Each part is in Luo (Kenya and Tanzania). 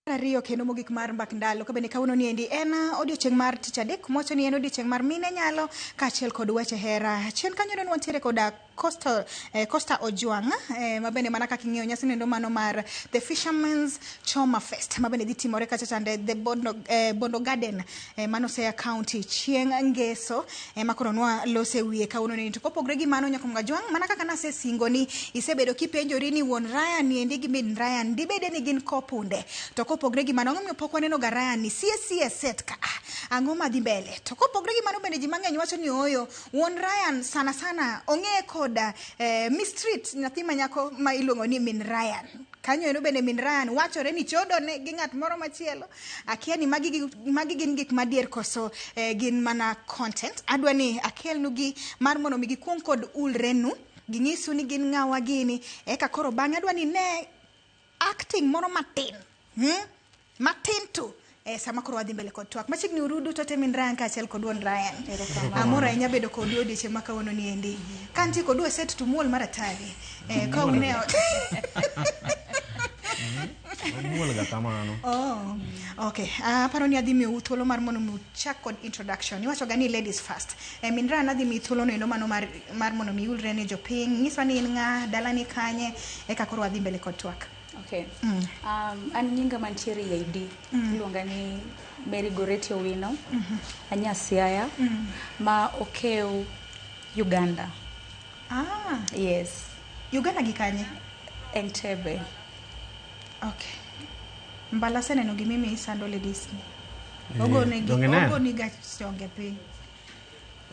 ariyo kendo mogik mar mbak ndalo ka bende kawuono ni endi en odiochieng' mar tich adek mocho ni en odiochieng' mar mine nyalo kaachiel kod weche hera chien kanyo ne wantiere koda costa, eh, costa ojwang' eh, ma bende mana kaka ing'eyo nyasi nendo mano mar the fishermans choma fest ma bende dhi timore kacha chande the bondo, eh, bondo garden e, mano Siaya County chieng' Ngeso e, ma koro nwa lose wiye kawuono ni to kopogre gi mano Nyakom Gajwang' mana kaka nasesingo ni isebedo kipenjori ni wuon Ryan ni endi gi min Ryan dibede ni gin kopunde to kopogre gi mano ang'o momiyo pok waneno ga Ryan ni sie sie set ka a, ang'o madhi mbele to kopogre gi mano bende ji mang'eny wacho ni oyo wuon Ryan sana sana ong'eye koda eh, Miss Street nyathi manyako ma iluongo ni min Ryan kanyo ero bende min Ryan wachore ni chodone gi ng'at moro machielo Akia ni magi, gi- magi gin gik madier koso eh, gin mana content. Adwa ni akelnugi mar mondo mi gikwong kod ulrenu, ging'isu ni gin ng'awa gini, eka koro bang'e adwa ni ne acting moro matin hmm? matin tu Eh, sama koro wadhi mbele kod twak machiegni urudu to temin Ryan kaachiel kod wuon Ryan amor ahinya bedo kodu odiechieng' ma kawuono ni endi ka nitie kodu e set tumuol mar atari eh, ka une ot Omuol ga kamano. Oh, okay. Ah, aparo ni adhi miu thuolo mar mondo mi uchak kod introduction. Iwacho ga ni ladies first. Eh, min ran adhi miu thuolo no endo mano mar mar mondo mi ulre ne jopiny. Nyiswa ni in ng'a, dala ni kanye, eka koro adhi mbele kod twak. Okay. Mm. Um, an nyinga mantiere e ID mm. iluonga ni Mary Goreti Owino mm -hmm. Anyasiaya mm. ma okew Uganda. Ah, Yes, Uganda gi kanye? Entebbe. Okay. Mbala seneno gi mimi isando ladies ni. Eh, Ogoni gi donge ne? ogoni ga chonge piny.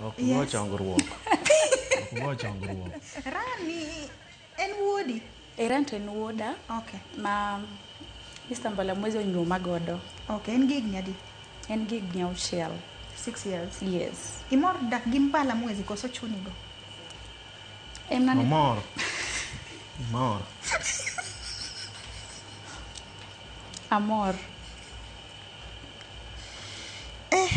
Ok Yes. go chongruok. Ok go chongruok. Rani en wuodi. Erant en wuoda okay. ma Mr. Mbalamwezi onyuoma godo. Okay, en gi higni adi? En gi higni auchiel. Six years? Yes. Imor dak gi Mbalamwezi koso chuni go? Emani... Omor. Omor. Amor. Eh.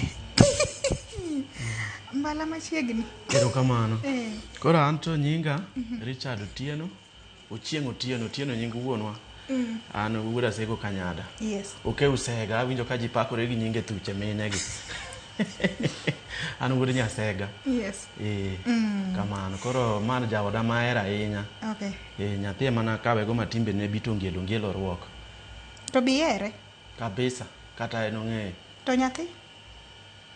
mbala machiegni erokamano Eh. koro an to nyinga richard otieno ochieng otieno otieno nying wuonwa Mm. an wuod asego kanyada yes oke usega awinjo ka ji pakore gi nyinge thuche minegi an wuod nyasega yes ee Mm. kamano koro man jaoda mahero ahinya okay ee nyathi emana kawego matimbene bitongielo ngielo ruok to bihere Kabisa kata en ong'eyo. To nyathi?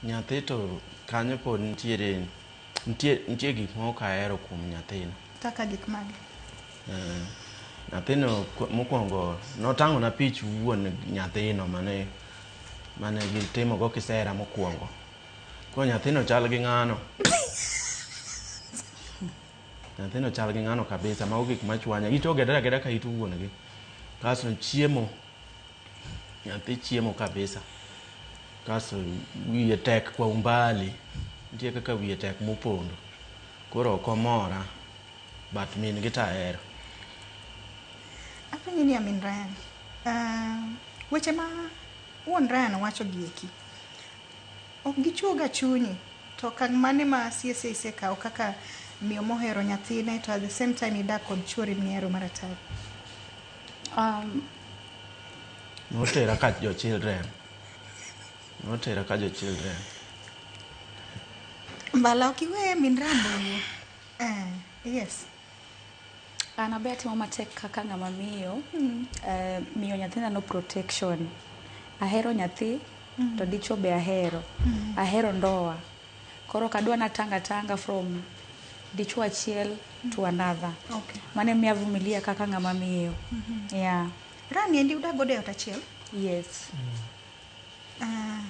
Nyathi to kanyo pod nitiere nitie nitie gik moko kahero kuom nyathino. Kaka gik mage? Eh, nyathino ku- mokwongo notang'ona pich wuon nyathino mane mane gitimogo kisera mokwongo. Koro nyathino chal gi ng'ano. Nyathino chal gi ng'ano kabisa, mago gik machwanya. It ogedore ageda ka it wuon gi. Kasto chiemo Nyathi chiemo kabisa. Kaso wiye tek kwa umbali. Nitie kaka wiye tek mopondo. Koro ok omora. But min gi to ahero. Apenji ni amin Ryan. Uh, weche ma wuon Ryan wacho gi eki. Ok gichuoga chunyi. To kang' mane ma siese isekawo kaka miyo mohero nyathine to at the same time idak kod chuori mihero maratari? Um, Notera ka jo children. Notera ka jo children. Mbala ok iwe min Rambo. Eh, yes. an abe atimo matek kaka ng'ama miyo eh, miyo nyathina no protection ahero nyathi to dichwo be ahero ahero ndoa Koro ok adwa natang atanga from dichwo achiel to another. Okay. Mane miya vumilia kaka ng'ama miyo. Yeah. Rani endi udak godo e ot achiel? Yes. Ah,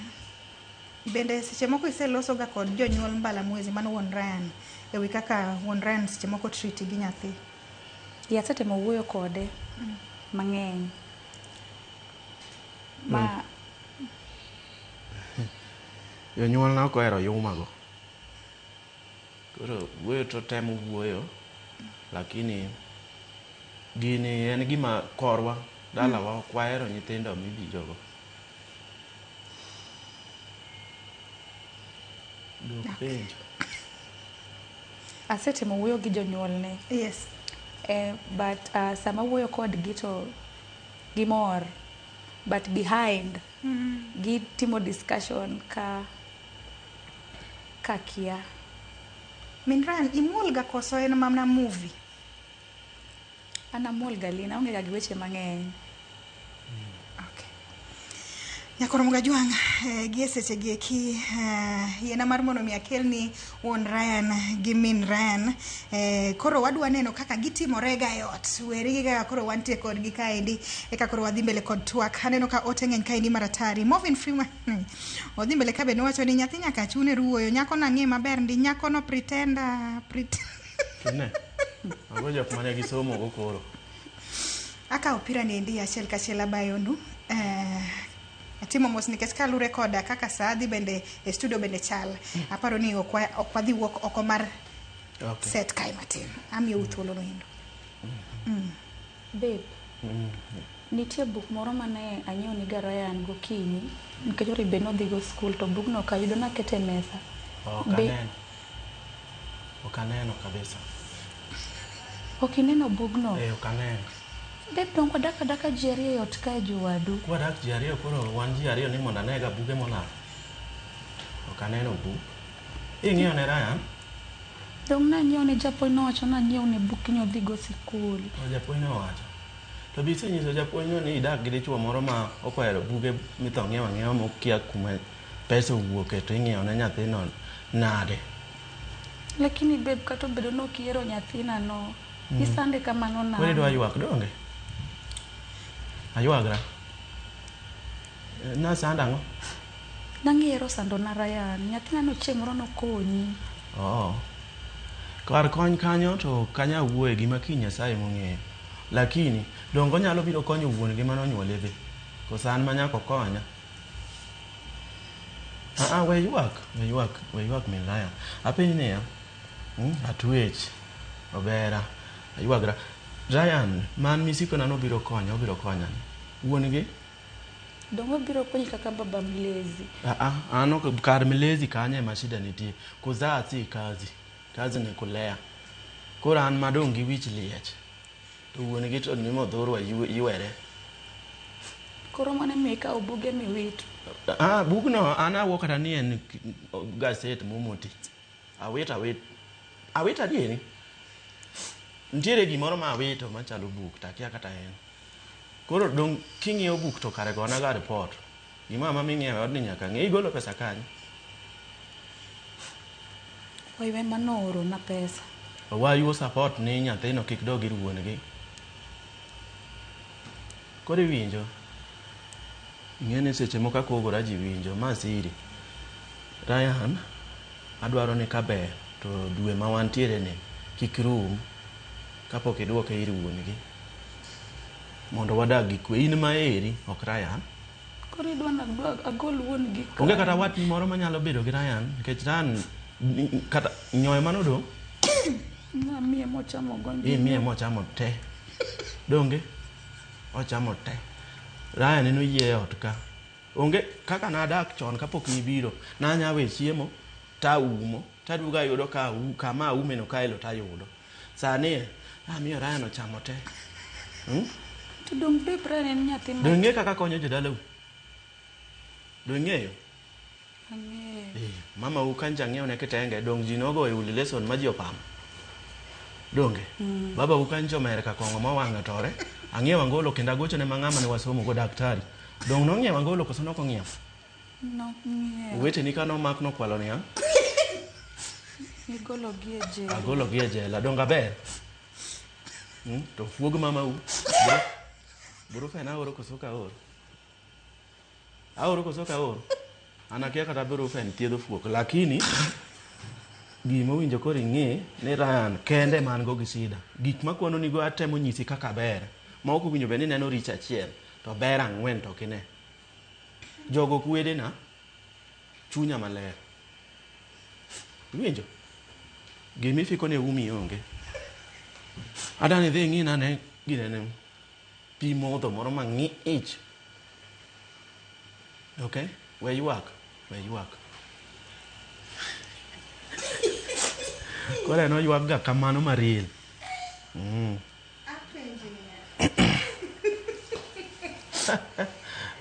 bende seche moko iselosoga kod jonyuol mbala mwezi mano wuon Ryan e wi kaka wuon Ryan seche moko triti gi nyathi. Yeah, asetemo wuoyo kode mang'eny. Ma Jonyuolna ok ohero yuma go. Koro wuoyo to otemo wuoyo lakini gini en gima korwa, dalawa ok wahero nyithindo mibiro go. Duok penjo. Asetemo wuoyo gi jonyuolne. Yes. Eh, but uh, sama wuoyo kodgi to gimor but behind Gitimo discussion ka ka kia. Min Ryan, imuol ga koso en mana movie? An amuol ga Lina, aonge ga gi weche mang'eny. Okay. Nyakoromo Gajwang', eh, gi e sechegi eki eh, yiena mar mondo mi akelni wuon Ryan gi min Ryan eh, koro wadwa neno kaka gitimore ga e ot weri gi kaka koro wantie kodgi kaendi eka koro wadhi mbele kod twak aneno ka ote ng'eny kaendi maratari Morvin Freeman odhi mbele kabe nowacho ni nyathi nyaka chune ruoyo nyako nang'e maber ndi nyako no pretenda pret Tine. Mago jok mane gisomo go koro. akawo opira ni endi achiel kachiel abayonu eh, Atimo mos nikech kalure koda kaka saa dhi bende e studio bende chal. Aparo ni ok wa- ok wadhi wuok oko mar Okay. set kae matin. Amiyou thuolo noendo. Babe, nitie buk moro mane anyiewo ni Garayan gokinyi nikech ori be nodhigo skul to bugno ok ayudo nakete e mesa. Ok Be- aneno. Ok aneno kabisa. Ok ineno bugno? Eh, ok aneno. Babe donge wadak adaka ji ariyo e ot kae jowadu? Kwadak ji ariyo koro wan ji ariyo ni mondo anega buge molal. Ok aneno buk. Ing'iyo ne Ryan? Donge nang'iewo ne japuonj nowacho nang'iew ne buk ni odhigo sikul. O japuonj ne owacho. To be isenyiso japuonjno ni idak gi dichwo moro ma ok ohero buge mitho ng'iewo ang'iewa ma okia kuma pesa owuoke to ing'iewo ne nyathino nade? Lakini babe kata obedo ni ok ihero nyathinano, Mm. Isande kamano na. Kore dwa ywak donge? Aywagra. Na sanda ang'o? Nang'ero sando na Ryan. Nyathina no chieng' moro nokonyi. Oo. Oh. Kar kony kanyo to kanya wuoye gima kiny Nyasaye mong'eyo. Lakini dongo nyalo biro konyo wuon gi mano onyuole be. Kosa an manyako konya. Aa, ah, ah, we ywak, we ywak, we ywak min Ryan. Apenyi niya, Hmm, atwech obera aywagra ryan man misikona nobiro konya obiro konya wuon gi dongo biro konyi kaka baba mlezi ano kar mlezi kanye ma shida nitie kuzaa si kazi kazi ni kulea koro an madong gi wich liech to wuon gi to nimodhurwa ywere koro mane mi ka obuge miwito ah bugno an awuo kata ni en gaset momoti Awit awit. Awit adieri. Nitiere gimoro ma awito machalo buk to akia kata en. Koro dong' king'iewo buk to kare gona ga report. Gima ma ming'iewe odni nyaka ng'e igolo pesa kanye. Oiwe mano ooro na pesa. Owayu o support ni nyathino kik dog ir wuon gi. Koro iwinjo. Ing'e ni seche moko akogora ji winjo. Ma siri. Ryan, adwaro ni ka ber to dwe ma wantiere ni kik rum kapok idwoke ir wuon gi. Mondo wadag gi kwe. In ma eri, ok Ryan. Koro idwa ni agol wuon gi kanye? Onge kata watni moro ma nyalo bedo gi Ryan. Nikech Ryan kata nyoyo mane odong'. Namiye mochamo gonde. Imiye mochamo te. donge ochamo te raya neno yie ot ka onge kaka nadak chon kapok nibiro nanya we chiemo taumo taduogo ayudo ka kama aumeno kaelo tayudo sani amiyo raya no chamo te hmm? donge kaka konyo jodalau dongeyo Ang'eyo. Eh, mama u kancha ang'eyo ne kitenge dong ji nogo e uli lesson ma ji opamo. Donge? Mm. Baba u kancha omer ka kongo ma wang'e tore. Ang'eyo angolo kendo agocho ne mang'ama ne wasomo go daktari. Dong nong'iew angolo koso noko ng'iew? Nok ng'iew. Wete ni kano mak nokwalo niya. Igolo gi e jela. Agolo gi e jela. Donga ber. Hmm? To fuog mama u. Bro. Bro fena oro koso ka oro. Aoro koso ok aoro? An akia kata abiro ka en thiedh ofuok lakini gima owinjo koro ing'e ni Ryan kende man go gi sida. Gik makwano nigo atemo nyisi kaka ber. Ma ok owinjo bed ni neno richo achiel to ber ang'wen to ok ine. Jogo ok wedena, chunya maler. Iwinjo? Gima ifiko ne umi onge. Adani idhi ing'ina ane ginene. pi modho moro mang'ich okay we ywak we ywak koro en oywakga kamano maril mm.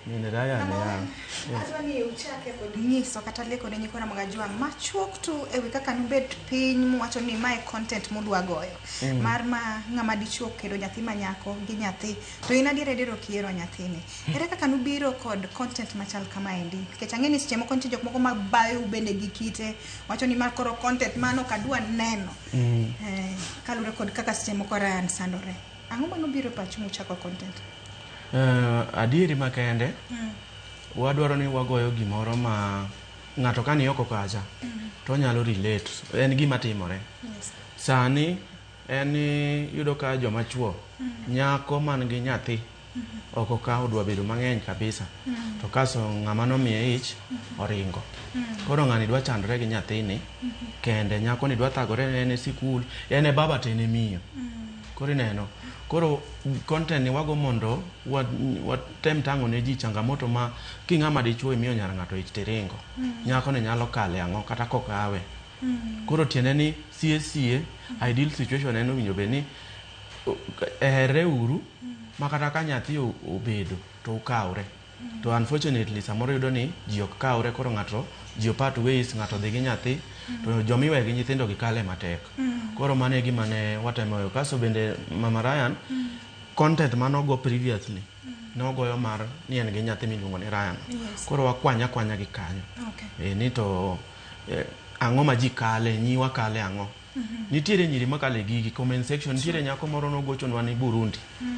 Nene raya ne ya. Adwa ni uchake kod nyiso kata leko ne nyikwa Ramogi Ajwang' machuok tu e wi kaka nubed piny muwacho ni mae content mudwa goyo. Mm. Mar ma ng'ama dichuo kendo nyathi ma nyako gi nyathi to in adier adier ok ihero nyathini. Mm. Ere kaka nubiro kod content machal kama endi? Nikech ang'e ni seche moko nitie jok moko ma bayo bende gi kite wacho ni ma koro content mano ok adwa neno. Mm. Eh, kalure kod kaka seche moko Ryan sandore. Ang'o mane obiro e pachu muchako content? Uh, adieri makende mm. wadwaro ni wagoyo gimoro ma ng'ato ka ni oko kacha mm. to onyalo relate en gima timore yes. sani en yudo ka joma chuo mm. nyako man gi nyathi ok okaw odwa bedo mang'eny kabisa to kaso ng'ama nomiye ich oringo koro ng'ani dwa chandore gi nyathini kende nyakoni dwa thagore ne en e sikul en e baba to en e miyo koro ineno koro content ni wago mondo wa- watem tang'o ne ji changamoto ma king'ama dichuo imiyo nyar ng'ato ich tiringo nyakoni nyalo kale ang'o kata kokawe koro tiende ni sie sie ideal situation en owinjo bed ni herre uru ma kata ka nyathi obedo to ukawre to unfortunately samoro yudo ni ji ok kawre koro ng'ato ji opat ways ng'ato dhi gi nyathi to joma iweyo gi nyithindo gi kale matek koro mano e gima ne watemo yo kaso bende mama Ryan content mane ogo previously nogoyo mar ni en gi nyathi miluongo ni Ryan Yes. koro wakwanya kwanya gi kanyo Okay. Eh, ni to eh, ang'o ma ji kale nyiwa kale ang'o Nitiere nyiri makale gigi comment section nitiere nyako moro nogochonwa ni Burundi. Mm.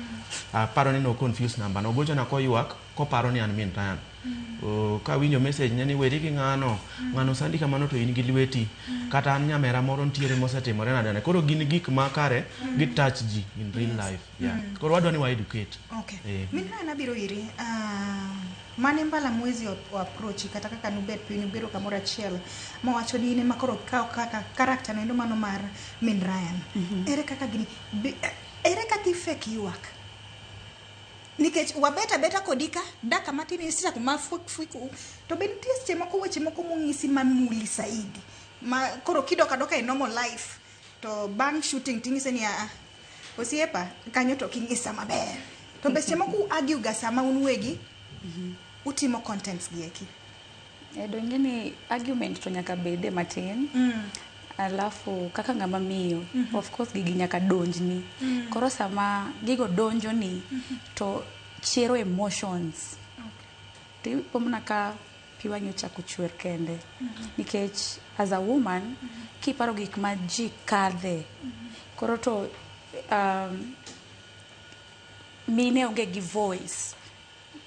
Aparo ni no confuse number no gochona koywak koparo ni an min Ryan. Mm. Uh, ka winjo message ne ni weri gi ng'ano mm. ng'ano sandi kamano to in gi lweti mm. kata an nyamera moro nitiere mosetimore na dane koro gin gik makare mm. gi touch ji in real life. Yeah. Mm. Koro wadwa ni wa educate. Okay. Eh. Min na nabiro iri. Uh, ah, mane mbala mwezi o approach kata kaka nubet piny ubedo kamoro achiel mowacho ni in ema koro kawo kaka karakta noendo mano mar min Ryan. Mm -hmm. Ere kaka gini ere kaka ifek ywak? nikech wabeta beta kodi ka daka matin isichako mafuiku to be nitie seche moko weche moko mong'isi mamuli saidi ma koro kidoka doka e normal life To bang' shooting ting'ise ni aa, osiepa kanyo to king'isa maber. To be seche moko u-argue ga sama un uwegi utimo contents gi eki. Eh, donge ni argument to nyaka bede matin alafu kaka ng'ama miyo of course gigi nyaka donjni koro sama gigo donjoni to chero emotions to ipo mana ka piwa nyocha chako chwer kende nikech as a woman kiparo gik ma ji kadhe koro to um, mine onge gi voice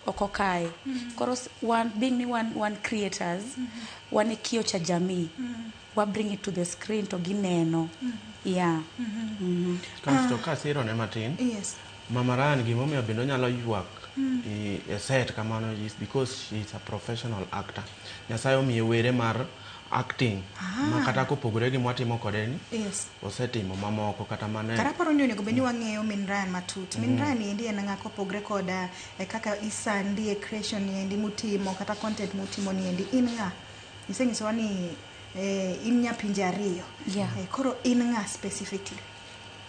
oko kae mm-hmm. koro one, being ni one, one creators mm -hmm. wane kio cha jamii mm -hmm. wa bring it to the screen to gineno mm -hmm. yeah mm -hmm. mm -hmm. kasto kasiro ne matin yes Mama Ryan gima omiyo bende onyalo ywak e set kamano is because she is a professional actor. Nyasaye omiye were mar acting ma kata kopogore gi mwatimo kode ni Yes. osetimo mamoko kata mane Kata paro ni onego bed ni wang'eyo min Ryan matut. Min Ryan ni endi en ng'a kopogre koda eh, kaka isandi e creation ni endi mutimo kata content mutimo ni endi in ng'a? Isenyisowa ni eh, in nya pinje ariyo. Yeah. Eh, koro in ng'a specifically?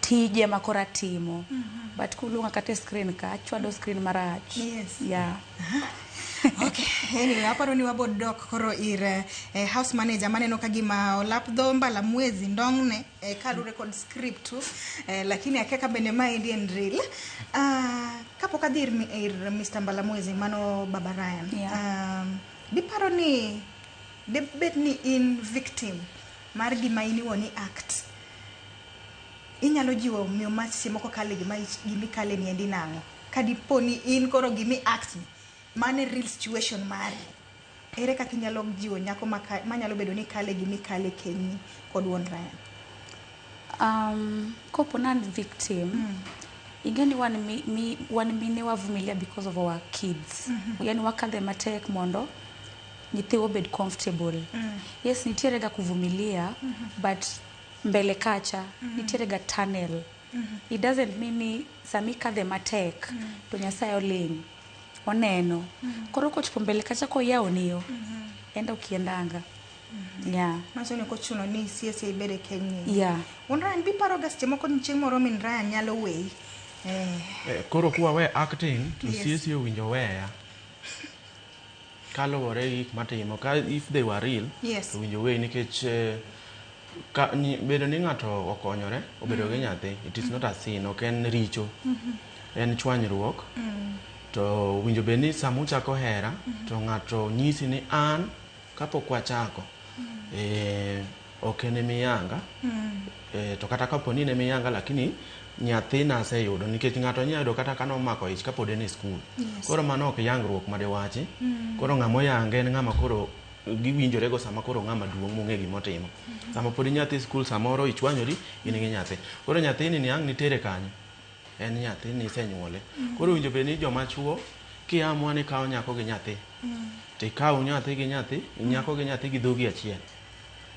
tije ma koro atimo but kuluonga kata e screen ka achwado screen marach Yes. yeah. Okay, anyway, aparo ni wabod dok koro ir eh, eh, house manager maneno ka gima olap dho mbala mwezi ndong'ne eh, kalure kod script tu eh, lakini akia ka bende ma endi en real Ah, kapok adhi ir, mi- ir Mr. mbala mwezi mano baba Ryan Yeah. um, diparo ni debed ni in victim mar gima in iwuon i act inyalo jiwo miyo ma seche moko kale gima ich- gima ikale ni endi nang'o ka dipo ni in koro gima i act ni mano e real situation mari ere kaka inyalo jiwo nyako ma ka- manyalo bedo ni kale gima ikale kenyni kod wuon Ryan um, kopo nan victim mm. ingeni wan, mi, mi, wan mine wavumilia because of our kids mm -hmm. yani wakadhe matek mondo nyithiwa obed comfortable yes nitiere ga kuvumilia but mbele kacha nitiere ga tunnel it doesn't mean ni sama ikadhe matek to nyasaye oling oneno koro kochopo mbele kacha koyawoni yo enda okiendanga yeah Manyiso ni ok ochuno ni isie sie ibed e keny ni. yeah Wuon Ryan biparoga seche moko ni chieng' moro min Ryan nyalo weyi. Eh, Eh, koro kuwawe acting to Yes. siesie owinjo weya Kaluwore gi gik matimo, ka if they were real, Yes. to winjo way nikech eh, ka, ni, bedo ni ng'ato okonyore, obedo gi nyathi, it is not a sin, ok en richo, en chwanyruok. To winjo bed ni sama uchako hera, to ng'ato nyisi ni an kapok wachako, eh, Ok en emiyanga eh, to kata kapo ni en emiyanga lakini nyathina aseyudo nikech ng'ato nya yudo kata kane omako ich kapod en e skul Yes. koro mano ok yangruok ma diwachi koro ng'ama oyanga en ng'ama koro giwinjorego sama koro ng'ama duong' mong'e gima otimo sama pod inyathi e skul samoro ichwanyori in gi nyathi koro nyathini ni ang' nitere kanye en nyathi ni isenyuole koro owinjo bed ni joma chuo kiamua ni kawo nyako gi nyathi to ikawo nyathi gi nyathi nyako gi nyathi gi dhogi achiel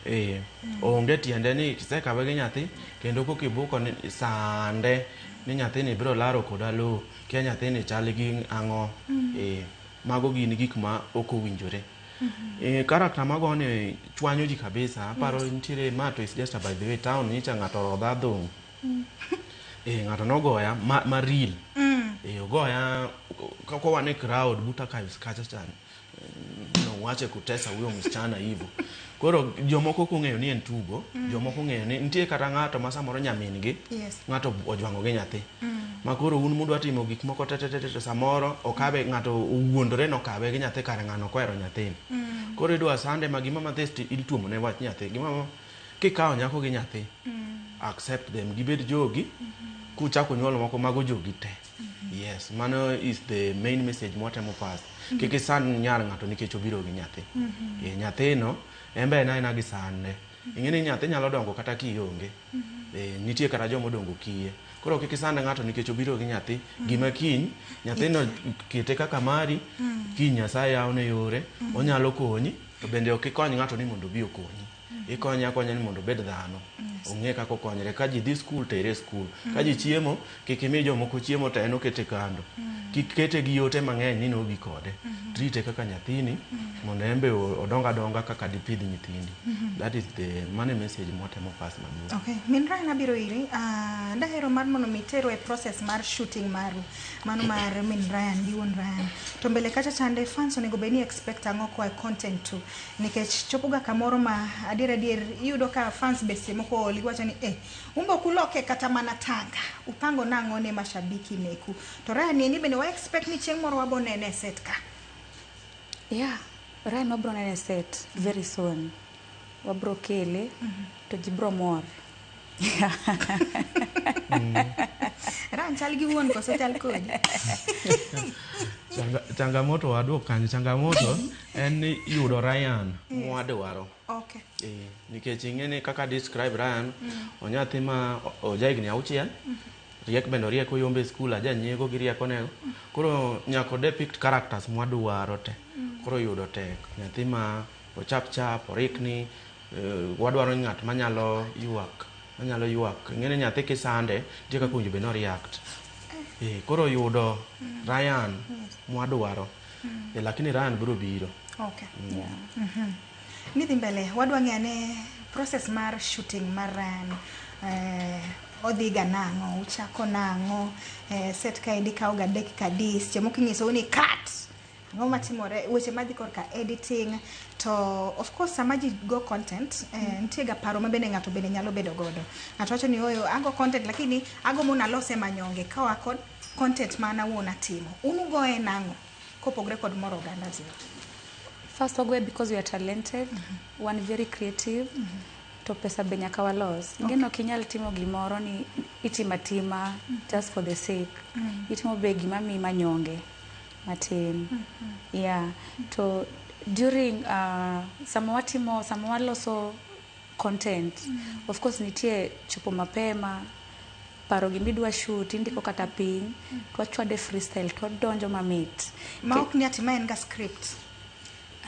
Ee, onge tiende ni kisekawe gi nyathi kendo koka ibuko ni sande ni nyathini biro laro koda lowo kia nyathini chal gi ang'o. Ee, mago gin gik ma ok owinjore. Ee, character magoni chwanyo ji kabisa. Aparo nitiere ma to is just by the way town nyicha ng'ato orodha adhong'. Ee, ng'ato nogoya ma, ma real. Ee, ogoya ka- kowane crowd buta ka- kacha chande. no, wache kutesa huyo msichana hivyo koro jomoko ok ong'eyo ni en tugo mm. jomoko ong'eyo ni nitie kata ng'ato ma samoro nyamin gi yes. ng'ato ojwango gi nyathi mm. ma koro un mudwa timo gik moko tetetete to samoro okabe mm. ng'ato owuondore nokabe gi nyathi kare ng'ano kohero nyathini mm. koro idwa sande ma gimama this ituomo ne wach nyathi gimama kikawo nyako gi nyathi mm. accept them gibed jogi mm -hmm. kuchako nyuolo moko mago jogi te yes mano is the main message mwatemo pass kik isand nyar ng'ato nikech obiro gi nyathi Eh, nyathino en be en aena gi sande ing'e ni nyathi nyalo dongo kata kionge Eh, nitie kata joma odongo kiye koro kik isand ng'ato nikech obiro gi nyathi gima kiny nyathino kete kaka mari kiny nyasaye yawne yore onyalo konyi to bende ok ikony ng'ato ni mondo obi okonyi ikonye akonya ni mondo obed dhano ong'e kaka okonyre ka ji dhi skul tere e skul ka ji chiemo kik imi jomoko chiemo to en okete kando kik kete gi yote mang'eny ni nogi kode trite kaka nyathini mondo en be o- odong adonga kaka dipidh nyithindi that is the mane message mwatemo pass maduong' Okay, min Ryan abiro iri. Ah, dahero mar mondo mi teru e process mar shooting maru. Mano mar min Ryan gi wuon Ryan. To mbele kacha chande fans onego bed ni expect ang'o koa e content tu. nikech chopoga kamoro ma adier adier iyudo ka fans be seche moko oli wacho ni eh umbe ok uloke kata mana tanga upango nang'o ne mashabiki meku to Ryan ni ni bende wa expect ni chieng' moro wabo nene e set ka yeah Ryan wabro nene e set very soon wabro kele to ji bro mor Ran chal gi wuon koso chal kodi. Changa, changamoto waduok kanyo changamoto en ni yudo Ryan mwadwaro Okay. Eh, nikech ing'eni kaka describe Ryan onyathi ma o- oja higni auchiel riek bende oriek oyombe e skul aja nyiego gi riekonego koro nyako depict characters mwadwaro te koro yudo tek nyathi ma ochap chap orikni Wadwaro ng'at manyalo ywak, manyalo ywak. Ing'eni nyathi kisande, nitie kaka owinjo bed ni o-react. Eh, koro yudo Ryan mwadwaro. Eh, lakini Ryan biro biro. Okay. Nidhi mbele, wadwa ng'eyo ane process mar shooting mar Ryan. Eh, odhiga nang'o, uchako nang'o, eh, set kaendi kawoga dakika adi, seche moko inyisou ni cut. Ang'o matimore weche madhi korka editing to of course sama ji go content eh, nitie ga paro ma bende ng'ato bende nyalo bedo godo ng'ato wacho ni oyo ago content lakini ago mondo alose manyonge kawa kod content ma an awuon atimo un ugoye nang'o kopogre kod moro oganda ji First wagoye because we are talented, wan very creative, to pesa be nyaka walos. Ingeno ok inyal timo gimoro ni itimo atima just for the sake. Itimo be gima miyi manyonge. matin yeah to during uh, sama watimo sama waloso content of course nitie chopo mapema paro gima idwa shoot indiko kata piny twachwade freestyle twadonjo mamit ma ok ni ati ma en ga script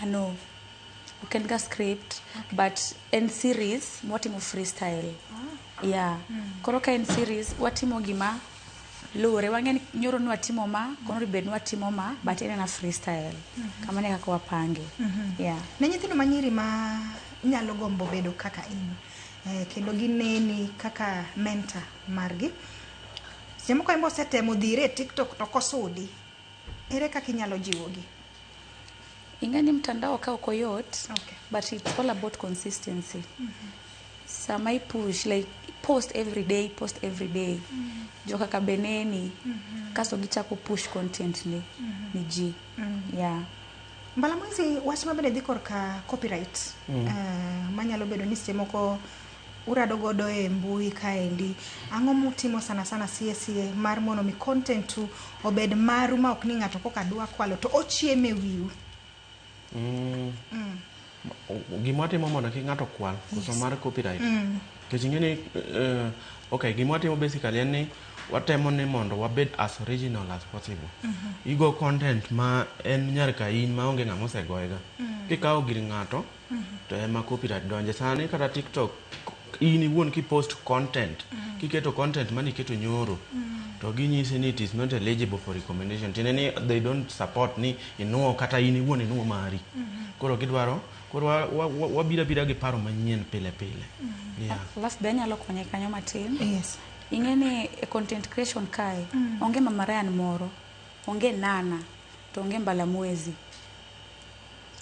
ano ok en ga script but en series mwatimo freestyle yeah koro ka en series watimo gima luwore wang'e ni nyoro nwatimo ma kono bed nwatimo ma but en ena freestyle kamano e kaka wapange yeah ne nyithindo ma nyiri ma nyalo gombo bedo kaka in eh, kendo gineni kaka mentor margi seche moko embe osetemo dhire e tiktok to kosudi ere kaka inyalo jiwogi Ingani mtandao ka ok oyot okay. but it's all about consistency mm -hmm. sama ipush like post every day post every day mm -hmm. jo kaka beneni mm -hmm. kaso gichako push content ni, mm -hmm. ni ji mm -hmm. yeah mbala mwezi wach mabende dhi korka copyright mm. uh, manyalo bedo ni seche moko urado godo e mbui kaendi, ang'o mutimo sana sana sie sie mar mondo mi content u obed maru ma ok ni ng'ato koka dwa kwalo to ochiemo e wiu. Mm. Mm. Gima watimo mondo kik ng'ato kwal koso yes. mar copyright. Mm. Kech ing'e ni uh, okay, gima watimo basically en ni watemo ni mondo wabed as original as possible mm -hmm. igo content ma en nyar ka in ma onge ng'ama osegoyega mm. kikawo gir ng'ato to ema copyright donje sani kata tiktok in iwuon kipost content mm. kiketo content mane iketo nyoro mm. to ginyisi ni it is not eligible for recommendation tiende ni they don't support ni inuo kata in iwuon inuo mari mm -hmm. koro gidwaro koro wabira bira gi paro manyien pile pile mm -hmm. yeah. last day nyalo konye kanyo matin yes ing'e ni e content creation kae mm. onge mamarayan moro onge nana to onge mbalamwezi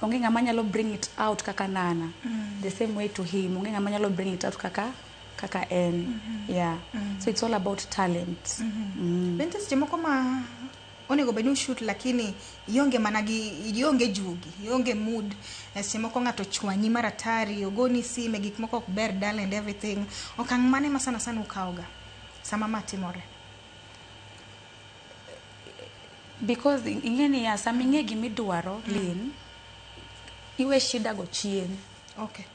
Onge ng'ama nyalo bring it out kaka nana. Mm. The same way to him. Onge ng'ama nyalo bring it out kaka kaka en. Mm -hmm. Yeah. Mm -hmm. So it's all about talent. Mm -hmm. mm. Bente seche moko ma onego bed ni ushut lakini ionge mana gi ionge juogi ionge mood eh, seche moko ng'ato chwanyi maratari ogoni sime gik moko ok ber dal and everything okang' mane ma sana sana ukawoga sama ma timore because ing'e niya sama ing'e gima idwaro mm. lin iwe shida go chien okay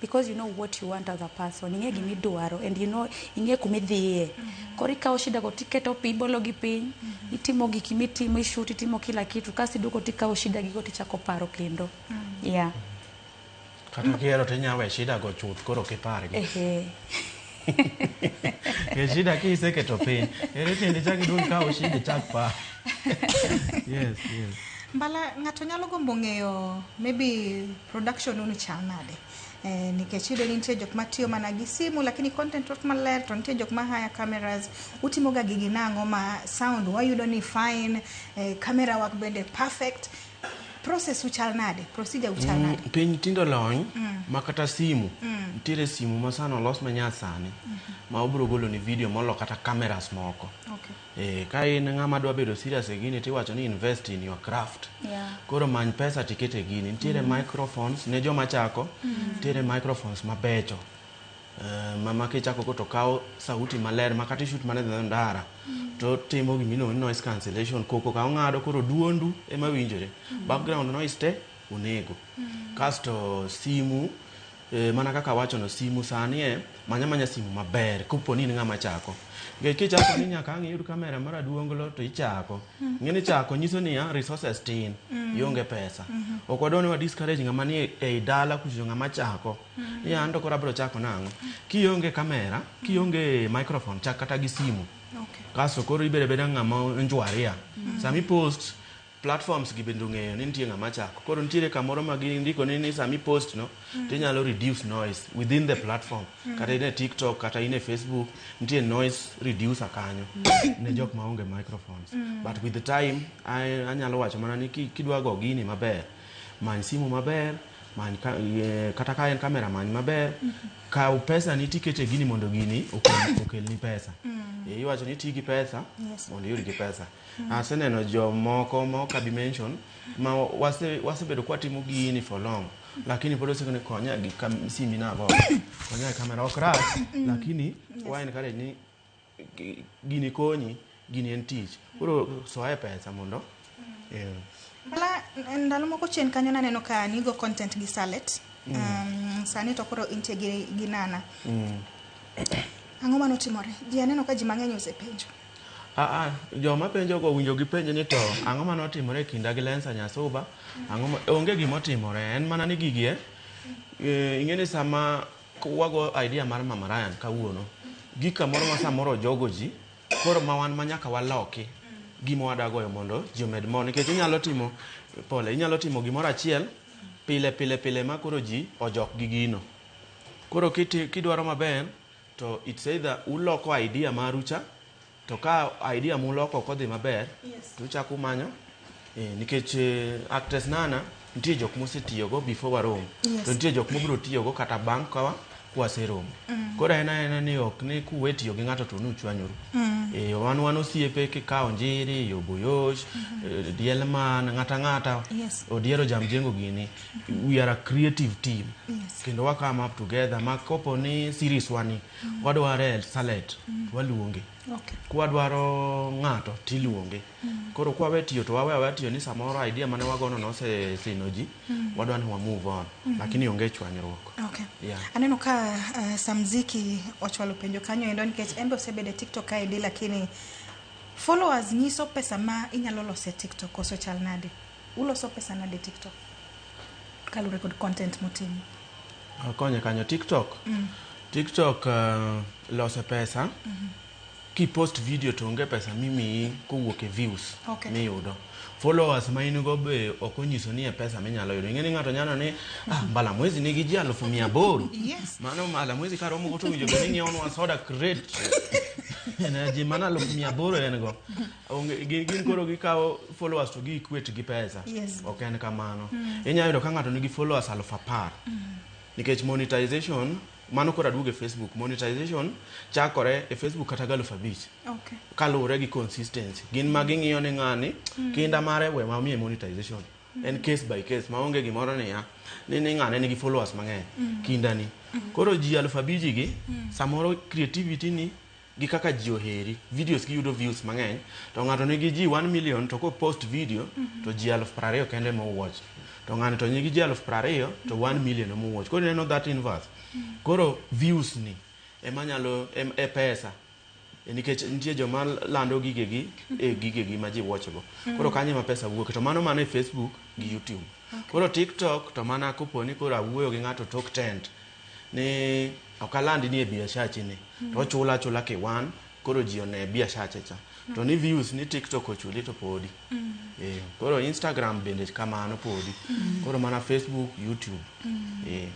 because you know what you want as a person ing'e gima idwaro and you know ing'e kuma idhiye mm-hmm. koro ikawo shida go tiketo pi ibologi piny mm-hmm. itimo gik mitimo ishut itimo kila kitu kasi iduogo tikawo shida gigo tichako paro kendo mm-hmm. yeah Kata kihero to inyalo we shida go chuth koro kipargi. Ehe. Ke shida kiseketo piny. Ere tiende chak iduog ikaw shida ichak par. Yes, yes. Mbala ng'ato nyalo gombo ng'eyo maybe production unu chal nade. Eh, nikech iyudo ni nitie jok matiyo mana gi simu lakini content ok maler to nitie jok ma haya cameras utimoga gigi nang'o ma sound wayudo ni fine eh, camera work bende perfect process uchal nade procedure uchal mm, nade mm, piny tindo lony mm. ma kata simu mm. nitiere simu ma sano olos ma nya sani mm -hmm. ma obiro golo ni video molo kata cameras moko okay. e, ka in ng'ama dwa bedo serious e gini tiwacho ni invest in your craft yeah. koro many pesa tikete gini nitiere mm. microphones ne joma chako mm. nitiere microphones mabecho Eh, mama kichako go to kawo sauti maler ma kata ishut mana dhi ndara to timo gima iluongo ni noise cancellation koko ka ong'ado koro duondu ema winjore background noise te onego kasto simu eh, mana kaka awachono simu sani e manya manya simu maber kopo ni in ng'ama chako nikech kichako ni nyaka ang' iyud kamera mar aduonglo to ichako ng'eni chako nyiso niya resources tin ionge pesa ok wadwa ni wa discourage ng'ama ni ei dala kuchocho ng'ama chako ni an to koro abiro chako nang'o kionge kamera kionge microphone chak kata gi simu Okay. kasto koro ibedo abeda ng'ama njwaria sami post platforms gi bende ong'eyo ni nitie ng'ama chako koro nitiere kamoro ma gindiko ni ni sami post no to inyalo reduce noise within the platform kata in e tiktok kata in e facebook nitie noise reducer kanyo ne jok ma onge microphones but with the time I- anyalo wacho mana ni ki- kidwa go gini maber many simu maber Many ka, eh, kata ka en kamera many maber kaw pesa ni tikete gini mondo gini okel- okelni pesa Eh, iwacho ni ti gi pesa Yes. mondo iyud gi pesa aseneno jomoko ma ok abi mention ma wase- wasebedo kwatimo gini for long lakini pod osekone konya gi kam- simbi nago konya gi kamera ok rach lakini wa encourage ni gini konyi, gini en tich. Koro soye pesa mondo eh, Bala, ndalo moko chien kanyo naneno ka nigo content gi Salet. Um, sani to koro intie gi, gi Nana. Ang'o mane otimore? Ji aneno ka ji mang'eny osepenjo. Ah, ah, joma penjo go winjo gi penjo ni to ang'o mane otimore e kinda gi Lensa Nyasuba? Ang'o ma- onge gima otimore, en mana ni gigi eh, eh, ing'e ni sama Wago idea mar Mama Ryan kawuono gi kamoro ma samoro ojogo ji koro ma wan ma nyaka waloki gima wadagoyo mondo ji omed mor nikech inyalo timo pole inyalo timo gimoro achiel pile pile pile ma koro ji ojok gi gino koro kiti- kidwaro maber to it's either uloko idea maru cha to ka idea muloko ok odhi maber to uchako umanyo eh, nikech eh, actress nana nitie jok mosetiyogo before warom Yes. to nitie jok mobiro tiyogo kata bang' kawa kwaseromo Mm. koro en aena ni ok ni kuwe tiyo gi ng'ato to nuchwanyuru Mm. Eh, wan wan osiepe kikawo njiri yoboyosh eh, dielman ng'ata ng'ata Yes. odiero jamjengo gini we are a creative team Yes. kendo wakam up together ma kopo ni series wani Wadware e Salet, waluonge. Okay. Kwadwaro ng'ato tiluonge. Koro kwawe tiyo to wawe awe tiyo ni samoro idea mane wagono nose sino ji, wadwa ni wa move on. Lakini onge chwanyruok. Okay. Yeah. Aneno ka uh, Samziki ochwalo penjo kanyo endo nikech embe osebedo e TikTok kaendi lakini followers nyiso pesa ma inyalo loso e TikTok koso chal nade? Uloso pesa nade TikTok kalure kod content mutimo? Akonye kanyo TikTok. Mm. TikTok uh, eh, lose pesa. Mm -hmm. Kipost video to onge pesa mimiyi kowuok e views okay. miyudo. Followers ma in go be ok onyiso ni e pesa minyalo yudo. Ing'e ni ng'ato nyalo ni ah, mbala mwezi nigi ji alufu mia aboro. Yes. Mano mbala mwezi ka romo go to winjo ni ng'iewo nwa soda crate. Ena ji mana alufu mia aboro en go. Onge- gi- gin koro gikawo followers to gi equate gi pesa Yes. ok en kamano inyalo yudo ka ng'ato nigi followers aluf apar nikech monetization mano koro aduogo e facebook monetization chakore e facebook kata gi aluf abich Okay. kaluwore gi consistency gin ma ging'iyo ni ng'ani kinda mare we ma miye monetization en case by case ma onge gimoro niya ni ni ng'ane nigi followers mang'eny kindani koro ji aluf abiji gi samoro creativity ni gi kaka ji oheri, videos gi yudo views mang'eny, to ng'ato nigi ji 1 million to ko post video mm -hmm. to ji aluf prariyo kende mo watch. To ng'ani to nigi ji aluf prariyo to 1 million mo watch. Koro ineno that inverse. Mm -hmm. Koro views ni ema nyalo em, e pesa e nikech nitie joma lando gigegi e gigegi ma ji watchgo. Mm. Koro kanye ma pesa wuok to mano mana e Facebook gi YouTube. Okay. Koro TikTok to mana koponi koro awuoyo gi ng'ato tok tent. ni ok alandi ni e biashachi ni to ochula achula kiwan koro ji one biashache cha to ni views ni tiktok ochuli to podi Eh, koro instagram bende kamano podi koro mana facebook youtube Eh,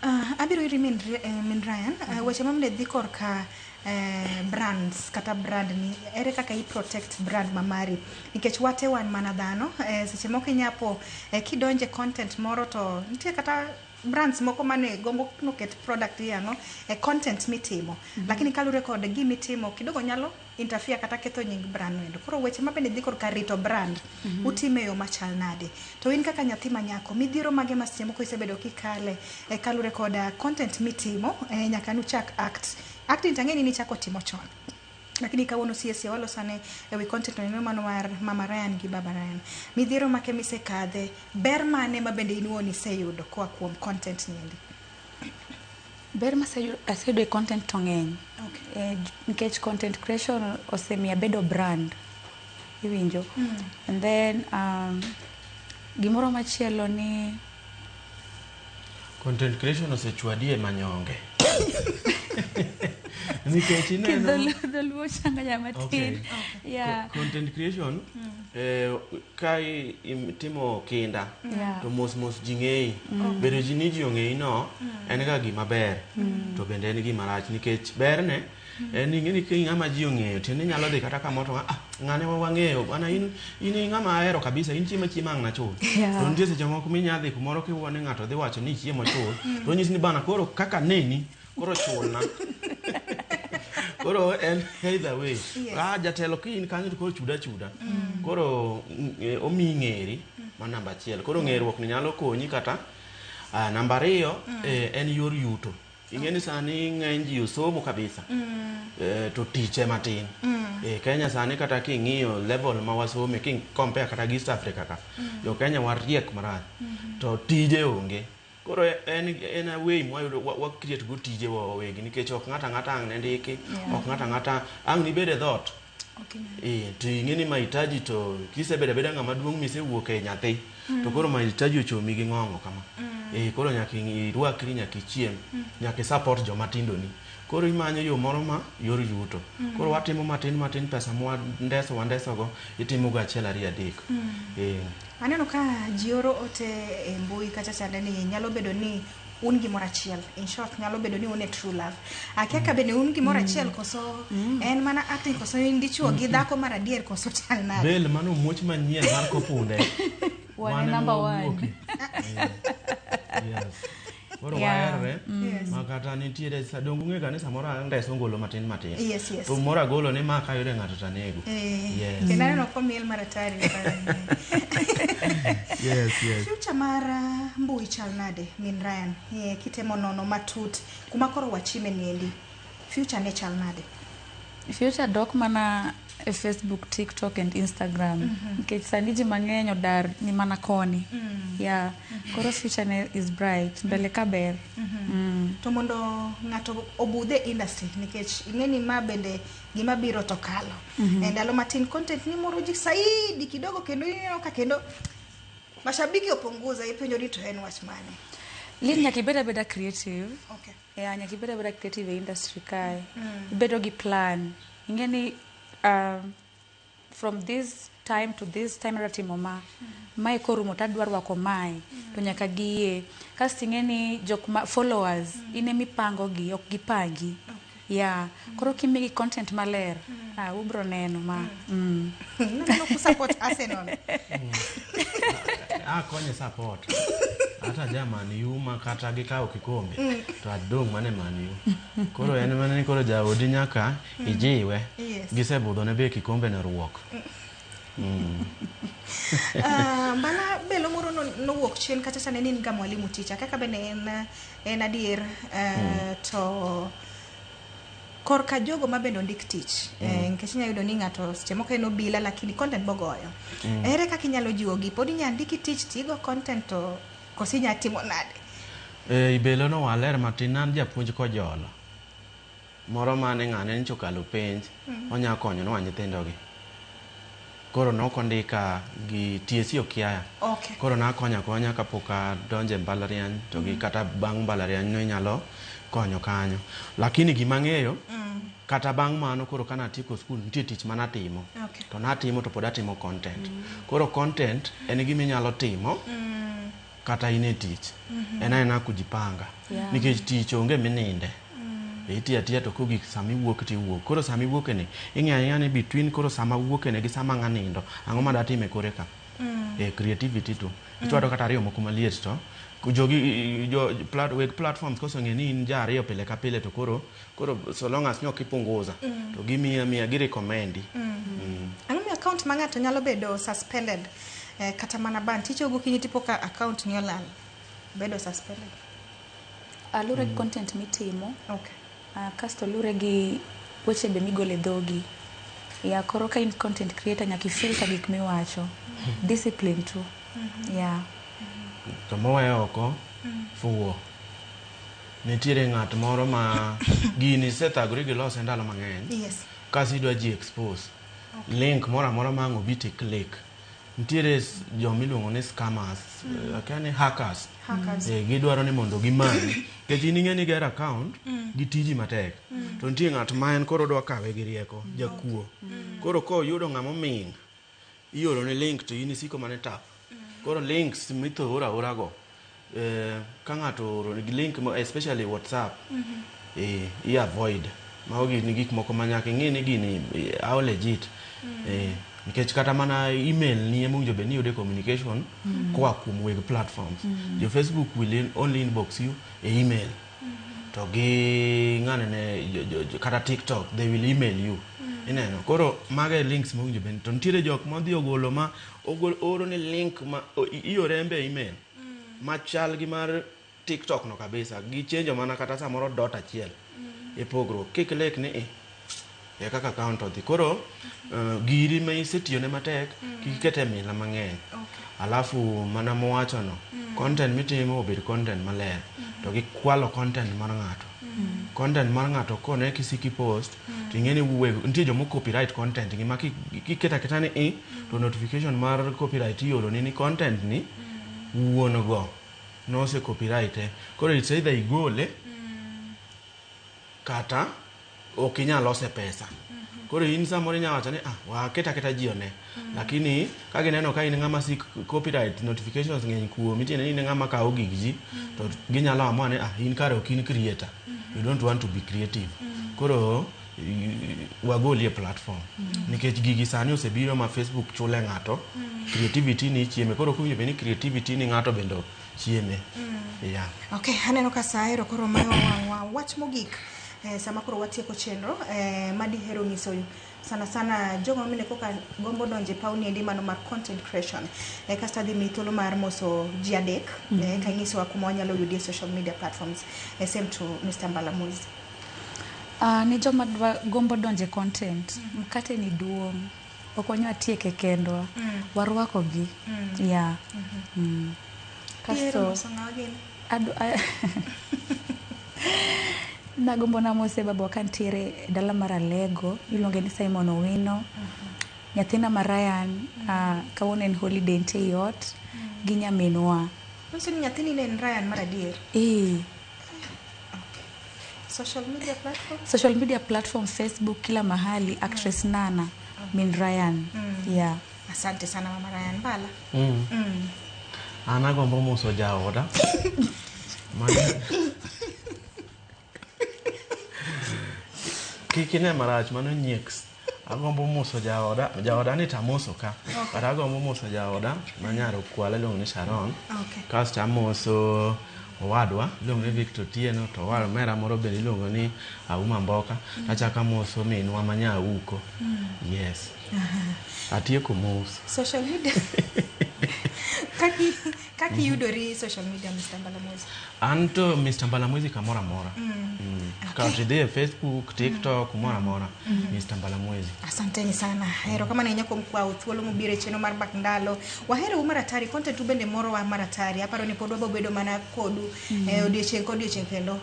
Ah, abiro iri min, Ri- eh, min Ryan Ah, weche mamle dhi korka eh, brands kata brand ni ere kaka i protect brand ma mari nikech wate wan mana dhano eh, seche moko inyapo eh, kidonje content moro to nitie kata Brands moko mane gombo noket product yang'o e content mitimo. Mm -hmm. Lakini kalure kod gimi timo kidogo nyalo interfere kata ketho nying brand wendo. Koro weche ma bende dhi kor ka rito brand mm -hmm. utime yo machal nade. To in kaka nyathi ma nyako midhiero mage ma seche moko isebedo kikale e kalure kod uh, content mitimo e, nyaka nuchak act. Acting tang'eni nichako timo chon. Lakini kawuono siesie walosane ewi content oneno mano mar Mama Ryan gi Baba Ryan. Midhiero make misekadhe, ber mane ma bende in wuon iseyudo koa kuom content niendi? Ber maseyudo aseyudo e content to ng'eny. Okay. Eh, j- nikech content creation osemiyo abedo brand iwinjo and then um, gimoro machielo ni Content creation osechwadi e manyonge. Nikech ineno Kidhol- dholuo changa ya matin Okay. yeah. Co- content creation eh, ka i- im- timo kinda Yeah. to mos mos ji ng'eyi bedo ji ni ji ong'eyi no en ga gima ber to bende en gima rach nikech berne en ing'e ni kiny ng'ama ji ong'eyo tiende inyalo dhi kata kamoro to ah ng'ane wa wang'eyo ana in in i ng'ama ahero kabisa in chiema chiema ang' nachul Yeah. to nitie seche moko minya dhi kumoro kiwuo ni ng'ato dhi wacho ni chiemo chul to onyisi ni bana koro kaka neni koro chulna koro en either way ah jatelo ki in kanyo to koro chuda chuda koro mm, eh, omiyi ng'eri ma namba achiel koro ng'eruok ni nyalo konyi kata ah, namba ariyo eh, en yor yuto Ing'e ni sani ng'eny ji osomo kabisa mm. eh, to tich ema tin mm. eh, Kenya sani kata king'iyo level ma wasome ki compare kata gi East Africa ka mm. jo Kenya wariek marach mm -hmm. to tije onge koro en en away mwa yudo wa create go tije wa wawegi nikech ok ng'ata ng'ata ang' ne ndiki yeah. ok ng'ata ng'ata ang' nibede dhot Eh, to ing'e ni mahitaji to kisebedo abeda ng'ama duong' misewuok e nyathi mm. to koro mahitaji ochomi gi ng'ongo kama mm. eh, koro nyaka irwakri nyaka ichiem mm. nyaka isupport joma tindoni koro imanyo yo moro ma yor yuto mm. koro watimo matin matin pesa mwandeso wandesogo itimogo achiel ariyo adek mm. eh. aneno ka ji oro ote e mbui kacha chande ni nyalo bedo ni un gimoro achiel in short nyalo bedo ni un e true love akia ka bende un gimoro achiel koso en mana acting koso in dichuo gi dhako mar adier koso chal nade bel mano muoch manyien mar kopunde Wan Wan e ema number one. wawuoke. Yes. koro Yeah. waherre Yes. ma kata nitiere sa- donge ung'e ga ni samoro andeso ngolo matin matin Yes, yes. to moro agolo ni ma kayude ng'ato to anego Eh, Yes. kendo aneno komiel mar atari yes, yes. future mar uh, mbui chal Nade min Ryan? Eh, kitemo nono matut kuma koro wachime niendi. Future ne chal nade? Future dok mana e Facebook, TikTok and Instagram. Nikech sani ji mang'eny odar ni mana koni. Yeah. Koro future ne is bright. Mbele ka ber. Mm. To mondo ng'ato obudhe industry nikech ing'e ni ma bende gima biro to kalo. E ndalo matin content ni moro ji saidi kidogo kendo ineno ka kendo Mashabiki opunguza ipenjo ni to en wach mane? Lin nyaka ibed abeda creative. Okay. Yeah, nyaka ibed abeda creative e industry kae. Mm. Ibedo gi plan. Ing'e ni um, from this time to this time adwa timo ma. Mm. Mae korumo to adwa rwako mae. Mm. To nyaka giye. Kasto ing'e ni jok ma followers mm. in emipangogi ok gipangi. Okay. Yeah. Koro kimigi content maler, ah, ubro neno ma. Mm. Naneno ku support Arsenal. Ah, konye support. Hata ja Man U ma kata gikawo kikombe to adong' mane Man U. Koro en mana ni koro jaodi nyaka ijiwe. Yes. Gisebudho ne be kikombe ne ruok. Ah, Mbala belo moro no- nowuok chien kacha cha ne in ga mwalimu ticha kaka bende en ah, En adier eh, hmm. to korka jogo ma bende ondik tich mm. eh, nikech inyalo yudo ni ng'ato seche moko en obila lakini content bogoyo mm. ere kaka inyalo jiwogi pod inyalo ndiki tich tigo content to kosi inyalo timo nade eh, ibelo no waler matin an japuonj kojolo Moro mane ng'ane nyocha okalo penj onya konyo nwa nyithindo gi. Koro nok ondika gi TSC okiaya. Okay. Koro nakonyo akonya kapok adonjo e mbalariany to gi kata bang' mbalariany no inyalo konyo kanyo. Lakini gima ang'eyo kata bang' mano koro ka natieko skul nitie tich mane atimo. Okay. To natimo to pod atimo content. Koro content en gima inyalo timo. kata in e tich en aena kujipanga Yeah. nikech tich onge mininde itiyo atiya to kogik sama iwuok to iwuok koro sama iwuokeni ing'eyo ang'eya ni between koro sama awuokeni gi sama ng'a nindo ang'o ma datime kore ka e creativity to ichwado kata ariyo moko maliet to jogi jo plat, weg platforms koseng'e ni in ja ariyo pile ka pile to koro koro so long as nyok ipunguza mm. to gimiya miya gi recommend mm. mm. ang'o mi account ma ng'ato nyalo bedo suspended eh, kata mana ban ticho gokinyi tipo ka account ni olal bedo suspended alure mm. content mitimo okay. uh, ah, kasto lure gi weche be migole dhogi ya koro ka in content creator nyaka ifilta gik miwacho mm. discipline tu mm -hmm. ya yeah. mm -hmm. to moweyo oko mm. fuwo nitiere ng'at moro ma gini isethagori gi lose ndalo mang'eny yes kasi idwa ji expose link moro amora ma ang' obi ti click nitiere s- joma iluongo ni scammers eh, akia ni hackers Hackers. Eh, gidwaro ni mondo gimanyi nikech in ing'e ni ger account gi tiji matek to nitie ng'at ma en koro odwa kawe gi rieko jakuo koro koyudo ng'ama oming' ioro ni link to in isiko mana e tap koro links mitho ora ora go eh, ka ng'ato ooro ni link mo- especially whatsapp eh, i avoid mago gin gik moko ma nyaka ing'e ni gini eh, how legit eh, nikech kata mana email ni ema owinjo bed ni yude communication koa kuom weg platforms jo facebook will in- only inbox you e email to gi ng'ane ne jo- jo- jo- kata tiktok they will email you ineno koro mago e links mowinjo bed to nitiere jok modhi ogolo ma ogol- ooro ni link ma o- i- iore embe e email machal gi mar tiktok no kabisa gichenjo mana kata samoro dot achiel e pogruok kik lek ni i ya kaka account odhi koro uh, giri ma isetiyone matek mm. kik ikete mila mang'eny okay. alafu mana mowachono mm. content mitimo obed content maler mm -hmm. to gikwalo content mar ng'ato mm. content mar ng'ato kone kisiki post mm. to ing'eni wuwe nitie jomo copyright content gi ma kiketa keta ni i e, mm. to notification mar copyright iolo ni ni content ni mm. wuon go nose copyright e koro it's either igole mm. kata ok inyal lose pesa koro in samoro inyalo wacho ni ah waket aketa ji one lakini ka gineno ka in ng'ama si copyright notifications ng'eny kuomi tiende ni in ng'ama kawo gig ji to ginyalo amua ni ah in kare ok in creator you don't want to be creative koro i- wagoli e platform nikech gigi sani osebiro ma facebook chule ng'ato creativity ni ichieme koro kuwinjo be ni creativity ni ng'ato bende chieme yeah. Okay, aneno ka saa ero koro mayo wang'wa. Wach mogik eh, sama koro watieko chenro eh, ma dihero nyisoyu sana sana jogo mine koka gombo donje pawni endi mano mar content creation eh, kasto adhi mi thuolo mar moso ji adek mm -hmm. eh, ka inyisowa kuma wanyalo yudie social media platforms eh, same to Mr. Mbalamuzi Uh, ne joma dwa gombo donje content mkate ni duong' ok wanyal tieke kendwa mm. warwako gi mm. yeah. mm -hmm. mm. kasto nagombo namose baba ka ntiere e dala mar alego iluonge ni simon owino mm -hmm. nyathina ma ryan mm -hmm. uh, kawuono en holiday ntie i ot mm -hmm. gi nyaminwa nyathini ne en ryan mar adier ee Social media platform? social media platform facebook kila mahali actress nana min ryan yeah Asante sana Mama Ryan Bala. Mm. Mm. An agombo moso jaoda. Mano- Kik ine marach mano nyieks. Agombo moso jaoda, jaoda ni tamoso ka. But agombo moso jaoda ma nyar okwala iluongo ni Sharon. Okay. Kasto amoso owadwa iluongo ni Victor Otieno to owar omera moro bende iluongo ni Auma Mboka. Achako amoso minwa ma nya Auko. Yes. Atieko mos. Social media. Kaki Kaka mhm. iyudori social media Mr. Mbalamwezi? An to Mr. Mbalamwezi kamoro amora. Mm. Mm. Okay. Kata idhi e Facebook, mm. TikTok, mm. moro amora. Mm. Mm-hmm. Mr. Mbalamwezi. Asanteni sana. Hero kama na nyako mkwa uthuolo mubire cheno mar bak ndalo. Wahero umara tari, konte tu bende moro wa mara tari. Aparo ni podwa bobedo mana kodu. Mm. Eh, odiochieng kod odiochieng kendo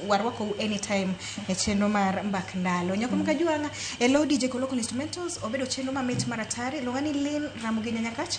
warwako u anytime e cheno mar mbak ndalo. Nyako mm. mkajuanga, hello DJ Kolokon Instrumentals, obedo cheno mamit mara tari. Longani Lynn Ramugi Nyanyakach.